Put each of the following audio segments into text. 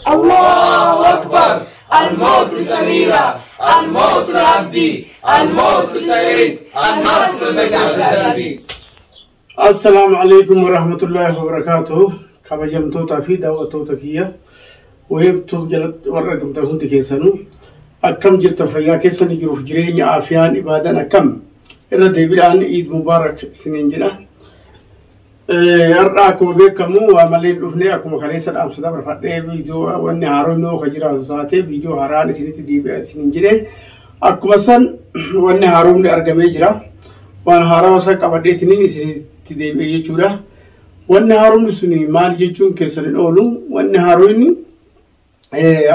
Allahu Akbar Al-Mawt Samira Al-Mawt Abdi Al-Mawt Saeed Al-Nasr Al-Aziz Assalaamu alaikum warahmatullahi wabarakaatuh kabajamtootaa fi daawwattoota kiyya weebtuub jalatti warra argamtan hundi keessanuu akkam jirta fayyaa keessan jiruuf jireenya aafiyaan ibaadan akkam irra deebiidhaan iid mubaarak isiniin jedha Har'a akkuma beekamu waa malee dhufnee akkuma kaleessa dhaamsa dabarfadhee viidiyoo wanni haaroo immoo kan jiraatu taatee viidiyoo haaraan isinitti deebi'aa isiniin jedhee akkuma san wanni haaromni argamee jira. Waan haarawa san qabadheetiniin isinitti deebi'ee jechuudha. Wanni haaromni suni maal jechuun keessan hin oolu. Wanni haaromni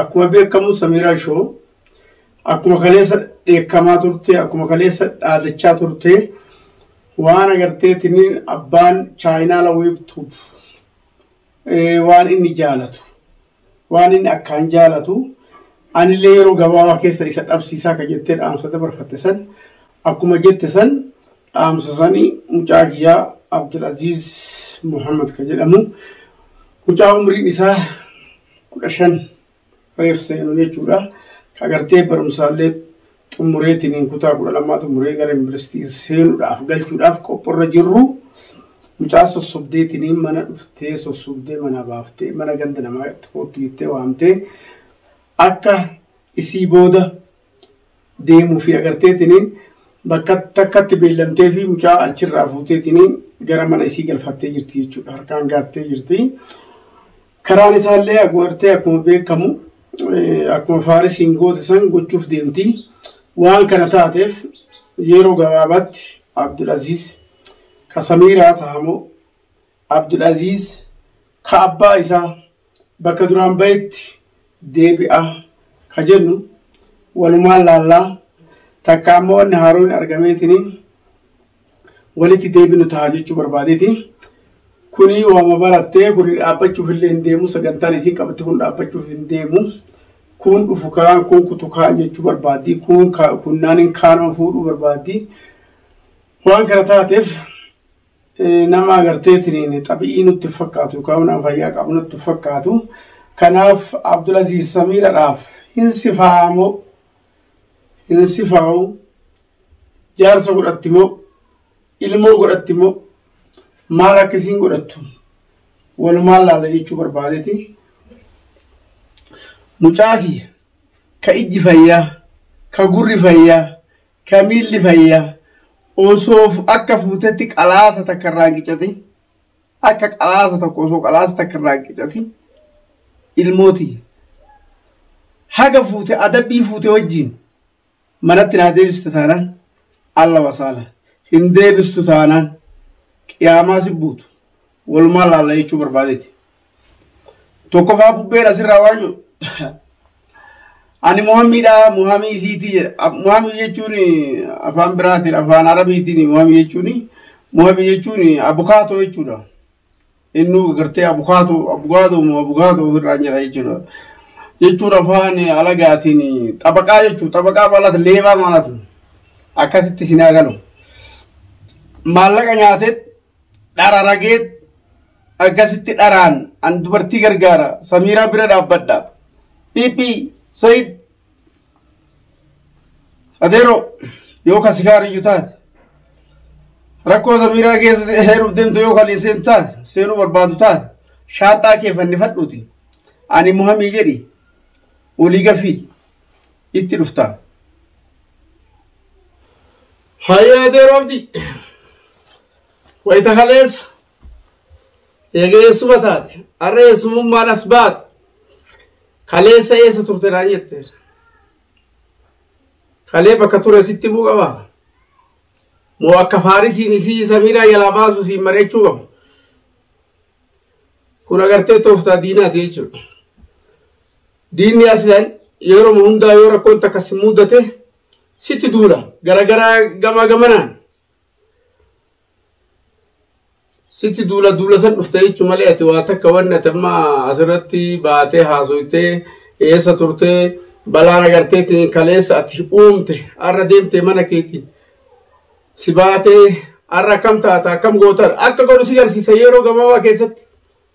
akkuma beekamu Samiiraa Shoo akkuma kaleessa dheekkamaa turte akkuma kaleessa dhaadachaa turte waan agarteetiin abbaan chaayinaa laweebtuuf waan inni jaalatu waan inni akkaan jaalatu anillee yeroo gabaabaa keessa isa dhabsiisaa kan jettee dhaamsa dabarfatte san akkuma jette san dhaamsa sanii mucaa kiyyaa Abdulaziz Muhammad kan jedhamu mucaa umriin isaa kudha shan reef seenu jechuudha. Ka agartee barumsaallee xumureetiin kutaa kudha lamaa xumuree gara yuunivarsiitii seenuudhaaf galchuudhaaf qophiirra jirru mucaa sossobdeetiin mana dhuftee sossobdee mana baaftee mana ganda namaa itti koottu jettee waamtee akka isii booda deemuu fi agarteetiin bakka takkatti beellamtee fi mucaa achirraa fuuteetiin gara mana isii galfattee jirti jechuudha harkaan gaattee jirti. Karaan isaallee akkuma artee akkuma beekamu akkuma faarisiin goote san gochuuf deemti. Waan kana taateef yeroo gabaabaatti Abdul Aziz ka Samiiraa tahamoo Abdul Aziz ka abbaa isaa bakka duraan bahetti deebi'a ka jennu walumaan laallaa takka ammoo wanni haaroon argameetiniin walitti deebinu ta'a jechuu barbaadeeti. Kuni waama barattee kuni dhaabbachuuf illee hin deemu sagantaan isiin qabatte kun dhaabbachuuf hin deemu. Kun dhufu kaan kun kutu kaan jechuu barbaaddi kun kunnaaniin kaanuma fuudhuu barbaaddi. Waan kana taateef nama agarteetiin xabi'ii nutti fakkaatu yookaan nama fayyaa qabu nutti fakkaatu. Kanaaf Abdulaziz Samiiradhaaf hin sifaamoo hin sifaa'u jaarsa godhatti moo ilmoo godhatti moo maal akka isiin godhattu walumaan laala jechuu barbaadeti mucaa kiyya ka ijji fayyaa ka gurri fayyaa ka miilli fayyaa osoo akka fuutetti qalaasa takka irraa hin qicate Akka qalaasa tokko osoo qalaasa takka irraa hin qicatin ilmooti haga fuute adabbii fuute wajjin manatti naa deebista taanaan alla wasaala hin deebistu taanaan qiyaamaa si buutu walumaa laalla jechuu barbaadeeti. Tokkoffaa bubbeen asirraa waan jiru Ani Muhammiidha, Muhammii isiitii jedha. Muhammii jechuun afaan biraatiin, afaan arabiitiin Muhammii jechuun Muhammii jechuun abukaatoo jechuudha. Innuu gartee abukaatoo, abukaatoo moo abukaatoo ofirraan jedha jechuudha. Jechuun afaan alagaatiin xabaqaa jechuudha. Xabaqaa maalatu leebaa maalatu akkasitti isin haa galu. Maallaqa nyaateet dhara rageet akkasitti dharaan an dubartii gargaara samiiraa bira dhaabbadha piipii sayid adeero yoo ka sikaariyyu taate rakkoo samiiraa keessa heeruuf deemtu yoo kan seentu taate seenuu barbaadu taate shaanxaa kee fannifadhuuti ani muhamii jedhi olii gafii itti dhufta Hayyee Atee Roobdi wayita kaleessa eega eessuma taate har'a eessumummaan as baate kaleessa eessa turte naan jette kalee bakka ture sitti himuu qaba moo akka faarisiin isii samiiraa jalaa baasu siin mari'achuu qaba kun agartee tooftaa diinaati jechuudha diinni aslan yeroo hundaa yoo rakkoon takka si mudate sitti duula garagaraa gamaa gamanaan sitti duula duula san dhufte jechuu malee ati waa takka wanni ati amma asirratti baatee haasoytee eessa turtee balaan agarteetiin kaleessa ati uumte har'a deemte mana keetiin si baatee har'a akkam taata akkam goota akka godhu si garsiisa yeroo gabaabaa keessatti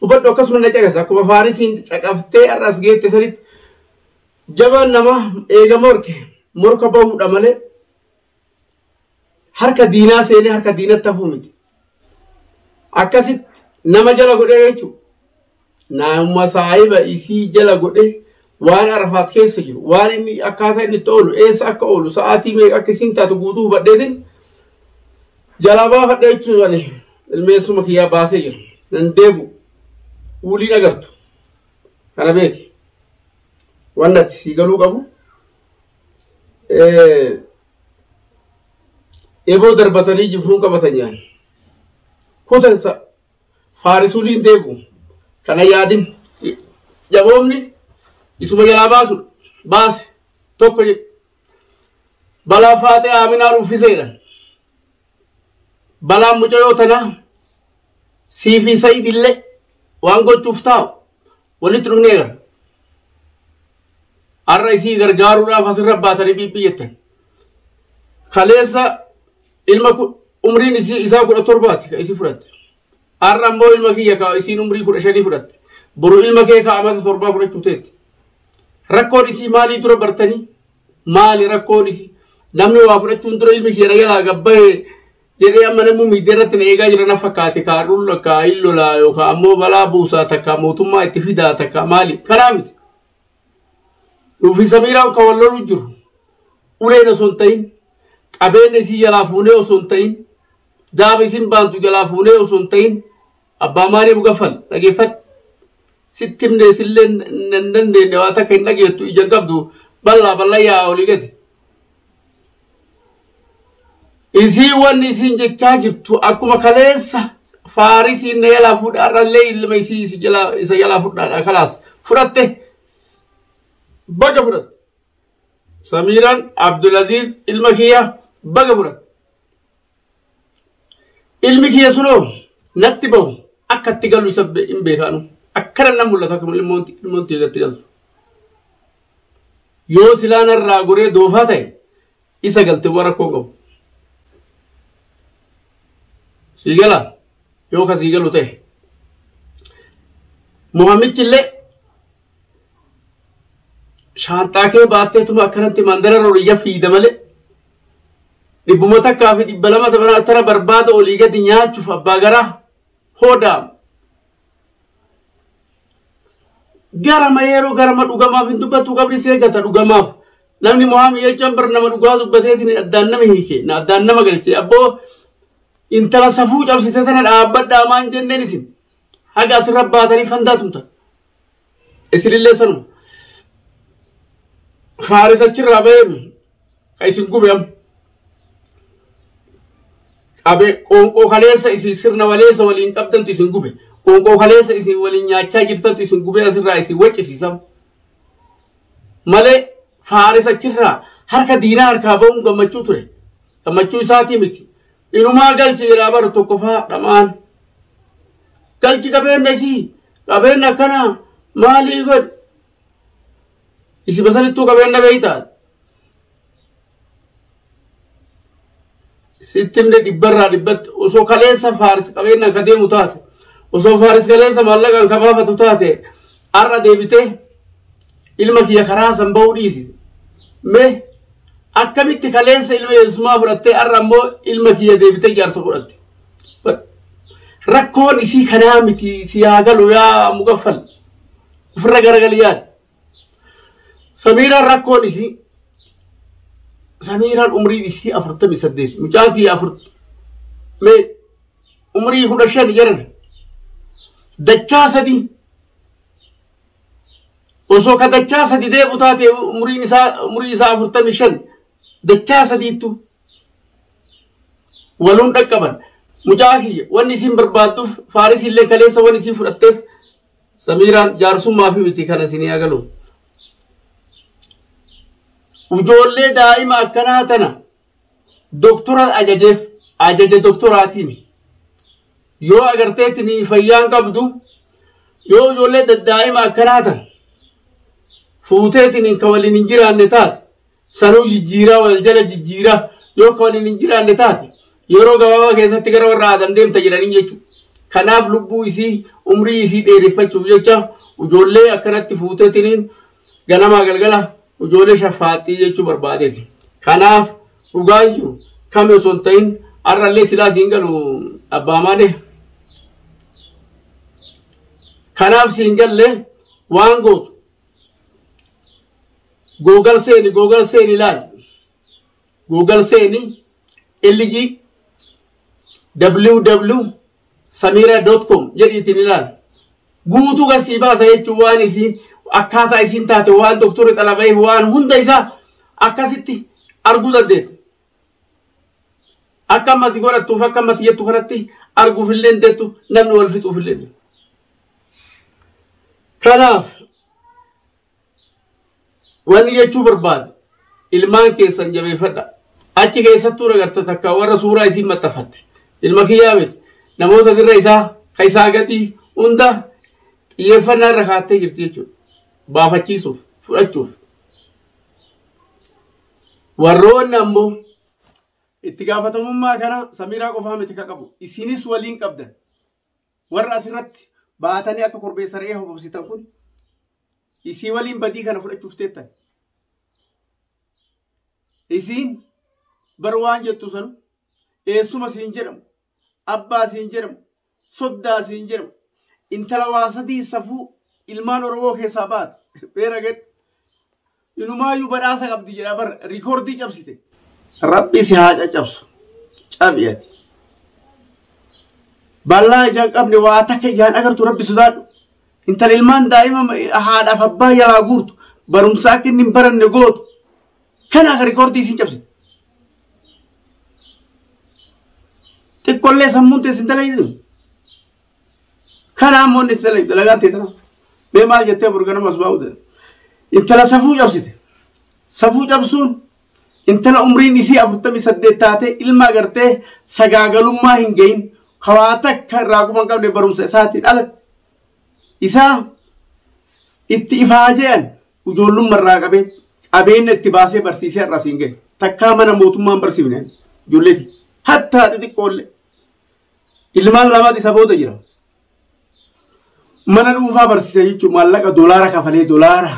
hubadhu akkasuma na caqasa akkuma faarisiin caqaftee har'a as geette sanitti Jabaan namaa eega morke morka bahuudha malee harka diinaa seenee harka diinatti hafuu miti. Akkasitti nama jala godhee jechuudha. Nama saahiba isii jala godhee waan arafaat keessa jiru waan inni akkaataa inni itti oolu eessa akka oolu sa'aatii meeqa akka isiin taatu guutuu hubadheetiin jalaa baafadhee jechuudhaan ilmeessuma kiyyaa baasee jira. Nan deebu. Wulii agartu. Kana beeki. wanni ati sii galuu qabu eboo darbatanii jibruun qabatan nyaan kutansa faarisuuliin deegu kana yaadin jaboomni isuma jalaa baasu baase tokko jedhe balaa faaxee aaminaa ruffiseedha balaan mucayoo tanaa siifii sayidillee waan gochuuf taa'u walitti dhufnee gara har'a isii gargaaruudhaaf asirra baatanii dhiiphii jettan kaleessa ilma umriin isii isaa kudha torbaati ka isii fudhatte har'a ammoo ilma kiyya ka isiin umrii kudha shanii fudhatte boru ilma kee ka amata torbaa fudhachuu teetti rakkoon isii maalii dura bartanii maali rakkoon isii namni waa fudhachuun dura ilmi kiyya na jalaa gabbahee jedhee amma namni miidiyaa irratti na eegaa jira na fakkaate kaa dhul kaa hin lolaa yookaan ammoo balaa buusaa takka mootummaa itti fidaa takka maali kanaa miti. Nuufi Samiiraan kan wal loluu jiru uleen osoo hin ta'in qabeenya isii jalaa fuunee osoo hin ta'in daaba isin baantu jalaa fuunee osoo hin ta'in Abbaa maalii mugaffal dhageeffadhu. Sitti himne isillee hin dandeenye waan takka hin dhageettu ija hin qabdu bal'aa bal'aa yaa olii gadi. Isii wanni isiin jechaa jirtu akkuma kaleessa faarisiin na jalaa fuudha har'allee ilma isii isi jalaa isa jalaa fudhaadha kalaas fudhatte baga fudhatte. Samiiraan Abdulaziz ilma kiyya baga fudhatte. Ilmi kiyya sunoo natti bahu akka itti galu isa hin beekaanu. Akkana nan mul'ata akka ilmoon ilmoon tiyya itti galtu. Yoo silaa narraa goree doofaa ta'e isa galte waan rakkoo hin qabu. Sii gala yoo ka sii galu ta'e. Muhammichi illee shaanxaa kee baatteetuma akkanatti mandara rooriyya fiida malee dhibbuma takkaa fi dhibba lama taphana tara barbaada olii gadi nyaachuuf abbaa garaa hoodaam. Garama yeroo garama dhugamaaf hin dubbatu qabri see gata dhugamaaf namni mohaamii jechaan bar nama dhugaa dubbateetiin addaan nama hiike na addaan nama galche abboo intala safuu cabsite tana dhaabbadhaa maan jenneen isin. haga asirra baatanii fandaa tumtan isinillee sanuma faaris achirraa ba'eemi ka isin gube amma qabe qoonqoo kaleessa isin sirna waleessa waliin qabdantu isin gube qoonqoo kaleessa isin waliin nyaachaa jirtantu isin gube asirraa isin waccisiisa malee faaris achirraa harka diinaa harkaa ba'uun gammachuu ture gammachuu isaatii miti inumaa galchi jedhaa bar tokkofaa dhamaan galchi qabeenya isii qabeenya akkanaa maalii godhe isi basanittuu qabeenya beeytaa sittimne dhibbarraa dhibbatti osoo kaleessa faaris qabeenya akka deemu taate osoo faaris kaleessa maallaqaan kabaafatu taate Har'a deebitee ilma kiyya karaa san ba'uu dhiisi. Mee akkamitti kaleessa ilma Yesuusumaa fudhattee har'a ammoo ilma kiyya deebitee jaarsa godhatte. Rakkoon isii kanaa miti si haa galu yaa mugaffal. Ofirra garagali yaada. Samiiraan rakkoon isii Samiiraan umriin isii afurtamii saddeet. Mucaa kiyya afur mee umrii kudha shan jedhan dachaa sadii osoo ka dachaa sadi deebu taate umriin isaa umrii isaa afurtamii shan dachaa sadiittu waluun dhaqqaban mucaa kiyya wanni isin barbaadduuf faarisiin illee kaleessa wanni isin fudhatteef samiiraan jaarsummaa fi miti kana isin agalu ijoollee daa'ima akkanaa tana doktoraan ajajeef ajaja doktoraatiin yoo agarteetiin fayyaan qabdu yoo ijoollee daddaa'ima akkanaa tan fuuteetiin ka waliin hin jiraanne taate sanuu jijjiiraa wal jala jijjiiraa yoo ka waliin hin jiraanne taate yeroo gabaabaa keessatti gara warra aadam deemta jedhanii jechuudha. Kanaaf lubbuu isii umrii isii dheereffachuuf jecha ijoollee akkanatti fuuteetiin ganamaa galgala ijoollee shaffaaxxii jechuu barbaadeeti. Kanaaf dhugaan jiru kami osoo hin ta'in har'allee silaa siin galu abbaa maadee. Kanaaf siin galle waan gootu googal seeni googal seeni ilaali. Googal seeni LG WW samiira dot com jedhiitiin ilaali. Guutuu kan sii baasa jechuun waan isiin akkaataa isiin taate waan doktorri xalabayeef waan hunda isaa akkasitti arguu dandeetta. Akka ammati godhattuuf akka ammati jettu kanatti arguuf illee hin deettu namni wal fixuuf illee. Kanaaf Wanni jechuu barbaadu ilmaan keessan jabeeffadha. Achi keessattuu nagarta takka warra suuraa isiin maxxanfatte. Ilma kiyyaa miti. Namoota dirra isaa ka isaa gadii hunda xiyyeeffannaa irra kaattee jirti jechuudha. Baafachiisuuf, fudhachuuf. Warroonni ammoo itti gaafatamummaa kana samiiraa qofaa miti ka qabu. Isinis waliin qabdan. warra asirratti baatanii akka korbeessa re'ee hobobsitan kun isii waliin badii kana fudhachuuf teettan. Isiin bar waan jettu sanu eessuma siin jedhamu abbaa siin jedhamu soddaa siin jedhamu intala waa sadii safuu ilmaan oromoo keessaa baate beera gad Inumaayyuu badhaasa qabdi jedha bar riikoordii cabsite. Rabbi si haa caccabsu. Cabi ati. Bal'aa ijaan qabne waa takka ijaan agartu rabbi sodaadhu. Intala ilmaan daa'ima haadhaaf abbaa jalaa guurtu barumsa akka inni hin baranne gootu. Kana akka riikoordii isin cabsite. Xiqqollee sammuun teessin dalagisu. Kana ammoo inni itti dalagaan ta'e tana. Mee maal jettee burganama asbaa'u ta'e. Intala safuu cabsite. Safuu cabsuun intala umriin isii afurtamii saddeet taatee ilma agartee sagaagalummaa hin gahin kawaa takka irraa quban qabne barumsa isaatiin ala isaa itti ifaa je'an ijoollumma irraa qabee qabeenya itti baasee barsiisee irraa siin gahe takkaa mana mootummaan barsiifne ijoolleeti hattaa xixiqqoolle Ilmaan lamaat isa booda jira. Mana dhuunfaa barsiisa jechuun maallaqa doolaara kafalee doolaara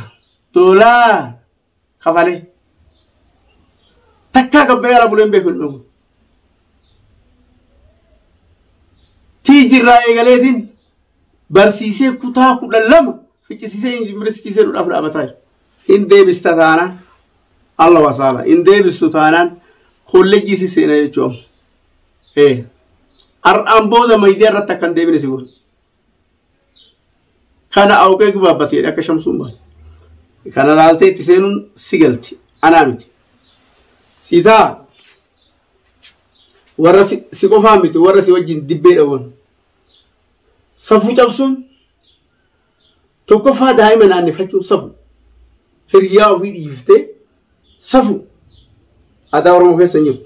doolaara kafalee takkaa gabbayee ala buleen beeku hin dhumu. Tiijirraa eegaleetiin barsiisee kutaa kudha lama ficcisiisee yuunivarsiitiisee dhudhaaf dhaabataa jira. Hin deebista taanaan Allah wasaala hin deebistu taanaan kolleejjii si seena jechuudha. Ee. Har'aan booda miidiyaa irratti akka hin deebine si godha. Kana awqee gubaabbate jedhe akka shamsuun baate. Kana ilaaltee itti seenuun si galti. Anaa miti. Siitaa warra si si qofaa miti warra si wajjin dibbee dhawwan. Safuu cabsuun Tokkoffaa daa'ima naannefachuun safu. Hiriyaa ofii dhiiftee safu. Aadaa Oromoo keessa hin jiru.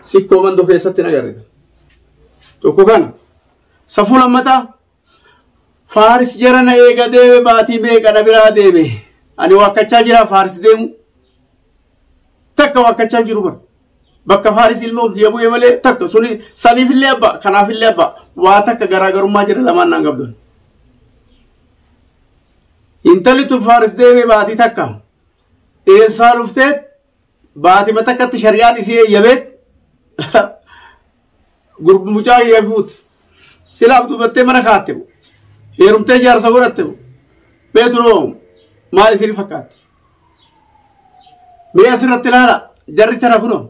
Sikkoo mandoo keessatti hin agarre. Tokko kana. Safuu lammataa Faaris jara na eega deeme baatii meeqa na biraa deeme. Ani wakkachaa jira Faaris deemu. takka waakkachaa hin jiru bara. Bakka Faaris ilma Uziya bu'ee malee takka suni saniifillee abbaa kanaafillee abbaa waa takka garaagarummaa jira lamaan naan qabdan. Intalli tun Faaris deemee baatii takka eessaa dhuftee baatima takkatti shari'aan isii eeyyameet Gurb mucaa kiyya fuut. Sila abdubattee mana kaatte moo? Heerumtee jaarsa godhatte moo? Mee tunoo maal isin fakkaatti? Mee asirratti ilaala jarri tana kunoo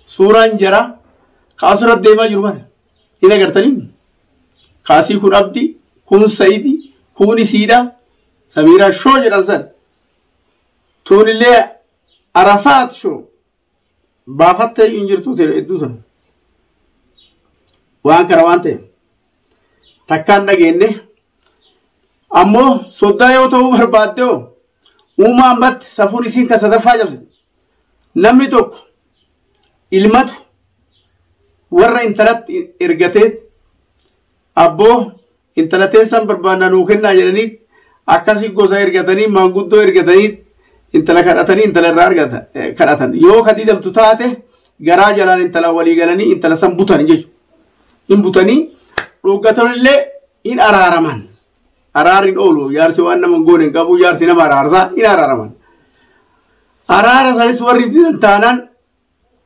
suuraan jaraa kaasura deemaa jiru kana hin agartanii? Kaasii kun abdi kun sayidi kun isiidha samiiraa shoo jedhan san tuunillee arafaat shoo baafattee hin jirtuu ta'e hedduu sana waan kana waan ta'eef takkaan dhageenye ammoo soddaa yoo ta'uu barbaadde hoo uumaa ammatti safuun isiin kan sadaffaa cabse namni tokko ilmatu warra intalatti ergatee Abboo intala teessan barbaannaa nuu kennaa jedhanii akkasii gosa ergatanii maanguddoo ergatanii intala kadhatanii intala irraa argata kadhatan yoo ka didamtu taate garaa jalaan intala walii galanii intala san butan jechuudha. Hin butanii dhooggatan illee hin araaraman. Araarri hin oolu jaarsi waan nama hin goone hin qabu jaarsi nama araarsa hin araaraman. Araara sanis warri didan taanaan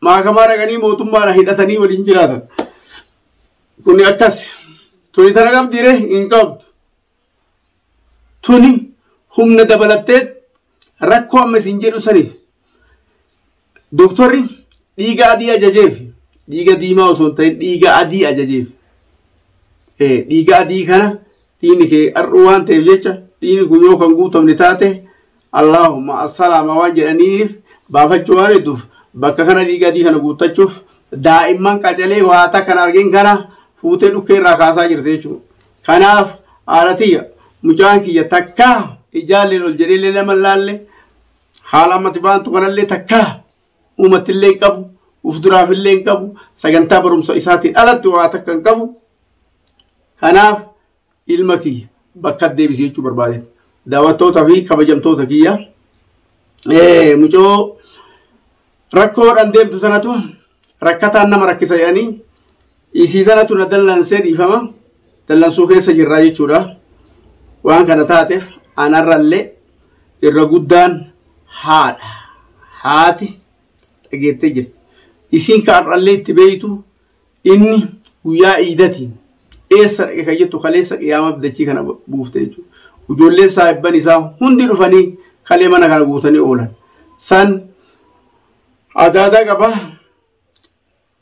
maakamaa dhaqanii mootummaadha hidhatanii waliin jiraatan. Kuni akkas. Tuni tana qabdiire hin qabdu. Tuni humna dabalattee rakkoo amma isin jedhu saniif. Doktorri dhiiga adii ajajeef dhiiga diimaa osoo hin ta'in dhiiga adii ajajeef. Dhiiga adii kana dhiini kee har'uu waan ta'eef jecha dhiini kun yoo kan guutamne taate allaahumma assalaama waan jedhaniif baafachuu waan hedduuf bakka kana dhiiga adii kana guuttachuuf daa'imman qacalee waa takkan argin kana fuutee dhukkee irraa kaasaa jirte jechuudha. Kanaaf haala tiyya mucaan kiyya takkaa ijaalleen ol jedheellee nama laalle haala ammati baantu kanallee takkaa uumatti illee hin qabu uf duraaf illee hin qabu sagantaa barumsa isaatiin alatti waa takka hin qabu kanaaf ilma kiyya bakka deebisee jechuu barbaade daawwattoota fi kabajamtoota kiyya mucoo rakkoodhaan deemtu sanatu rakkataan nama rakkisa jedhanii Isii tanatu na dallansee dhiifama dallansuu keessa jirraa jechuudha. Waan kana taateef anarrallee irra guddaan haadha. Haati dhageettee jirti. Isiin kan har'allee itti beeytu inni guyyaa iidatiin eessa dhaqe kan jettu kaleessa qiyaamaa dachii kana buufte jechuudha. Ijoolleen saahibban isaa hundi dhufanii kalee mana kana guutanii oolan. San adaadaa qaba.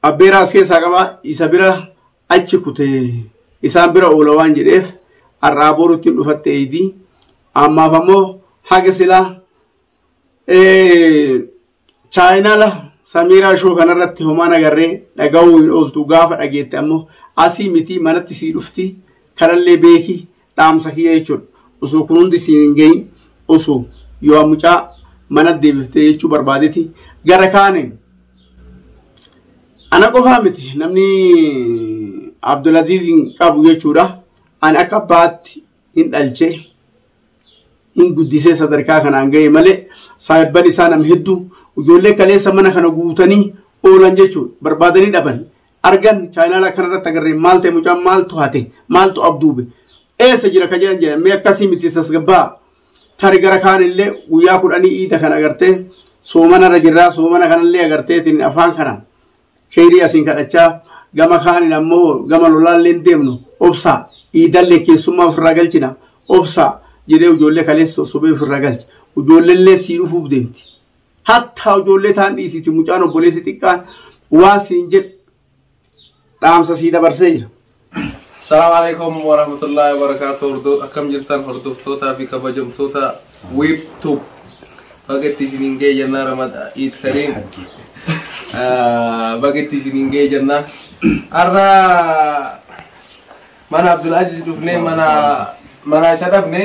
Abbeeraas keessaa qaba isa bira achi kute isaan bira oola waan jedheef har'aa borutti hin dhufatte eeydi ammaaf ammoo haga silaa chaayinaala samiiraa shoo kanarratti homaan agarree dhaga'uu hin ooltu gaafa dhageette ammoo asii miti manatti sii dhufti kanallee beeki dhaamsa kiyya jechuudha. Osoo kun hundi siin hin gahin osoo yoo mucaa mana deebiftee jechuu barbaadeti gara kaaniin ana qofaa miti namni Abdulaziiziin qabu jechuudha. Ani akka abbaatti hin dhalchee hin guddisee sadarkaa kanaan gahe malee saahibban isaa nam hedduu ijoollee kaleessa mana kana guutanii oolan jechuudha. Barbaadanii dhaban. argan chaayinaala kana irratti agarree maal ta'e mucaan maaltu hate maaltu abduube eessa jira ka jedhan jedhan mee akkasii miti tasgabbaa tari gara kaan illee guyyaa kudhanii iida kan agartee soomana irra jirraa soomana kanallee agarteetiin afaan kana keeyrii asiin kadhachaa gama kaanin ammoo gama lolaallee deemnu obsaa iidallee keessummaa ofirraa galchina obsaa jedhee ijoollee kaleessa sobee ofirraa galche ijoolleellee sii dhufuuf deemti. Hattaa ijoollee taan dhiisiti mucaan obboleessi xiqqaan waan siin jedhu dhaamsa sii dabarsee jira. Salaam alaikum wa rahmatullahi wa barakatuh hordof akkam jirtan hordoftootaa fi kabajamtoota wiib tuub baga itti isiniin ga'e jannaa ramada iid kariim baga itti isiniin ga'e jannaa har'a mana abdul aziz dhufnee mana mana isa dhabne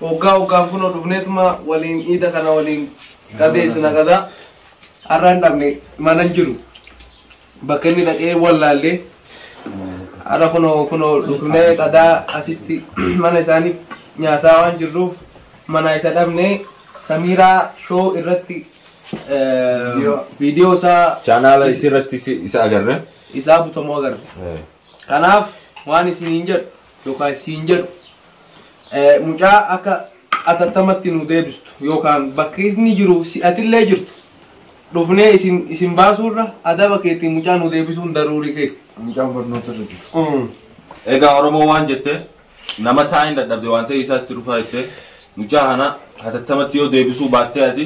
Woggaa woggaan kunoo dhufneetuma waliin iida kana waliin qabeessina gadaa. Har'a hin dhabne mana hin jiru. Bakka inni dhaqee wallaallee. Har'a kunoo kunoo dhufnee qadaa asitti mana isaanii nyaataa waan jirruuf manaa isa dhabnee Samiiraa shoo irratti eh, viidiyoo isaa Chaanaala isii irratti isi- isa agarre. isaa butamoo agarre. Eh. Kanaaf waan isiniin jedhu yookaan isiin jedhu Mucaa akka atattamatti nuu deebistu yookaan bakka inni jiru si'atillee jirtu dhufnee isin isin baasuurra adaba keetiin mucaa nuu deebisuun daruurii keeti. Mucaan barnoota irra jiru. Mm. Egaa Oromoo waan jette nama taa'in dadhabde waan ta'e isaatti dhufaa jette mucaa kana hatattamatti yoo deebisuu baattee ati